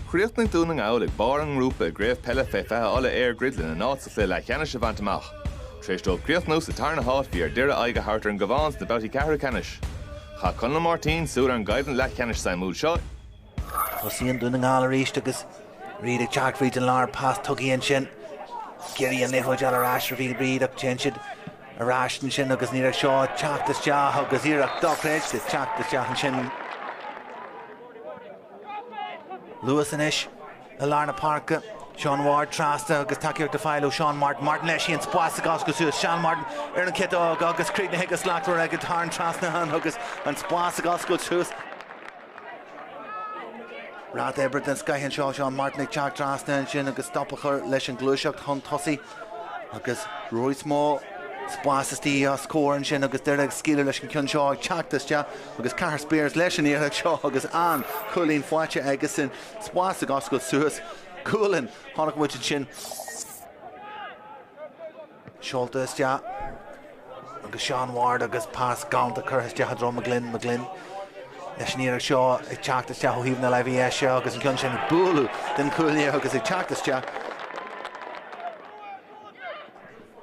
Chríochnaigh Dún na nGall ag barr an ngrúpa i gCraobh Peile Fé Fiche Uladh EirGrid lena n-áit sa chluiche leathcheannais a bhaint amach. Tar éis dóibh críochnú sa tarna háit bhí ar Doire aghaidh a thabhairt ar an gCabhán sna babhtaí ceathrú ceannais. Chaith Conall Máirtín súil ar an gcoimhlint leathcheannais suimiúil seo. Tosaíonn Dún na nGall arís agus Reid ag teacht fríd an lár. Pas tugtha ansin. Ag iarraidh an liathróid a fháil ar ais ar Reid ach téann siad Ar ais ansin agus an iarracht seo ag teacht isteach agus iarracht dochreidte ag teacht isteach ansin. Luas anois i lár na páirce. Seán Ward trasna agus tacaíocht ag fáil ó Seán Martin. Martin leis í an spas ag oscailt suas. Seán Martin ar an chiotóg agus críochnaithe go slachtmhar aige. Thar an trasnán agus an spas ag oscailt suas. Ráta oibre den scoith anseo Seán Martin ag teacht trasna ansin agus stop a chur leis an gluaiseacht chun tosaigh agus i bhfad níos mó spáis istigh os comhair ansin agus Doire ag scaoileadh leis an gceann seo ag teacht isteach agus Cathair Spiers leis an iarracht seo agus an cúilín faighte aigesan Spás ag oscailt suas. Cúl ann! Tháinig muid ansin. seolta isteach agus Sean Ward agus pas galanta curtha isteach i dtreo McGlynn, McGlynn leis an iarracht seo ag teacht isteach ó thaobh na láimhe deise agus an ceann sin ag bualadh den chúlaí agus ag teacht isteach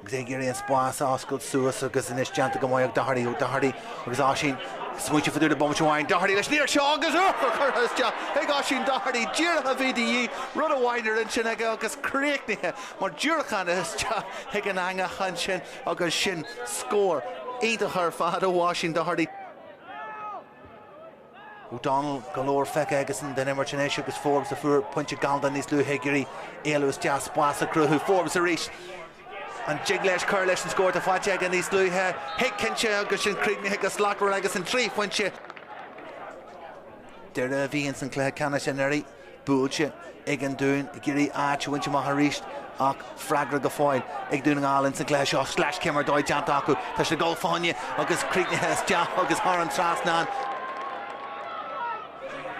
agus ag iarraidh an spás a oscailt suas agus anois déanta go maith ag Doherty, O'Doherty agus Oisín smaointiú faduda bomaite amháin, Doherty leis an iarracht seo agus curtha isteach ag Oisín Doherty, díreach a bhí de dhíth, rud amháin ar intinn aige agus críochnaithe Mar diúracán isteach chuig an eangach ansin agus sin scór iontach ar fad ó Oisín Doherty. O'Donnell, go leor feicthe aigesan den imirt anois agus Forbes a fuair pointe galánta níos luaithe ag iarraidh éalú isteach, spás a cruthú. Forbes arís. An dtig leis cur leis an scór atá faighte aige níos luaithe? Thig cinnte agus sin críochnaithe go slachtmhar aigesan, trí phointe. Doire a bhí ins an cluiche ceannais anuraidh. buailte ag an Dún ag iarraidh áit a bhaint amach arís ach freagra go fóill ag Dún na nGall insan gcluiche seo. Sleasachéim ar dóigh déanta acu. Tá siad ag gabháil i bhfáinne agus críochnaithe isteach agus thar an trasnán.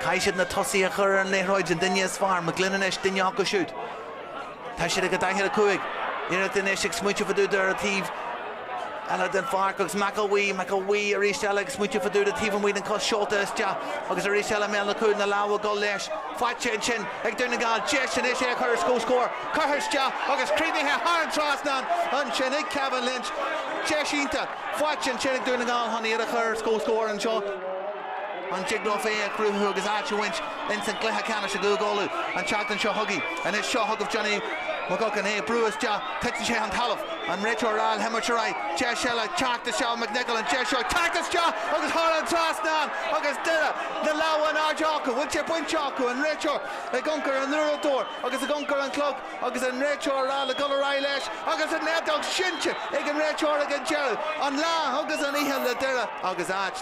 Caithfidh siad na tosaithe a chur ar an liathróid an duine is fearr, McGlynn anois duine acu siúd. Tá siad ag gabháil go daichead a cúig. Iarracht anois ag smaointiú faduda ar an taobh eile den pháirc agus McElwee, McElwee arís eile ag smaointiú faduda taobh amuigh den cos seolta isteach agus arís eile i mbéal an chúil, na lámha ag dul leis. Faighte ansin ag Dún na nGall. Deis anois é a chur ar comhscór. Curtha isteach agus críochnaithe thar an trasnán ansin ag Kevin Lynch. Deis iontach faighte ansin ag Dún na nGall chun iad a chur ar comhscór anseo. an dtig leo féin a chruthú agus áit a bhaint ins an gcluiche ceannais i gCúige Uladh an tseachtain seo chugainn. Anois seo chugaibh Johnny McGuckian, é ag brú isteach, titeann sé chun talaimh, an réiteoir ag rá le himirt ar aghaidh, deis eile teacht isteach, McNicholl, an deis seo teacht isteach agus thar an trasnán agus Doire, na lámha in airde acu, bhfuil sé bainte acu, an réiteoir ag amharc ar an uaireadóir agus ag amharc ar an chlog agus an réiteoir ag rá le dul ar aghaidh leis agus an fheadóg seinnte ag an réiteoir ag an deireadh, an lá agus an oíche le Doire agus áit.